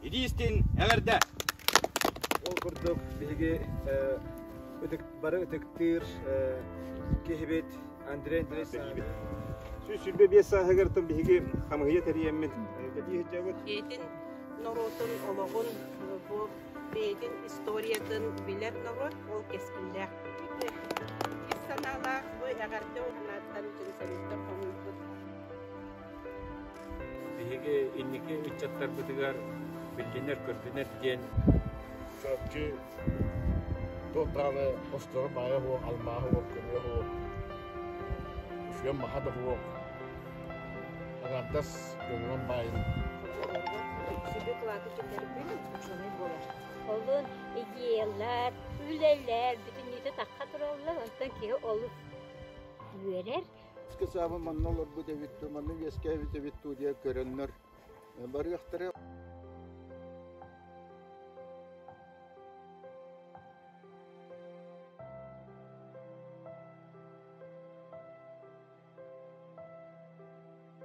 Иди истин эверде! Ол курдук биһиги ытык, бары ытыктыыр киһибит Андрей Андреевич Саанов. Сүүс сүүрбэ биэс сааһыгар тыл биһиги хамыһыйа тэрийэммит кэтии сылдьабыт. Бэйэтин норуотун олоҕун, бу бэйэтин историятын билэр норуот ол кэскиллээх. Ис санаалаах бу эҕэрдэ уһанааттан түмсэбиттэн хомуйбут Биһиги инники ыччаттарбытыгар биллинэр-көрдүнэр диэн чопчу туохтааны осторо баайа уо, алмааһы уо, көмүө уо, үсүөн маха да уо, аҥардас көҥүлэн баайын. Сиби кылааты түтэрбин учуонай буолар. Олун идеялар, үлэлэр бүтүннүүтэ тахха тураллар, онтон киһи олус үөрэр, Скачаабы манна олорбут эбит, манна үөскээбит эбит дуу диye көрөннөр барыахтара.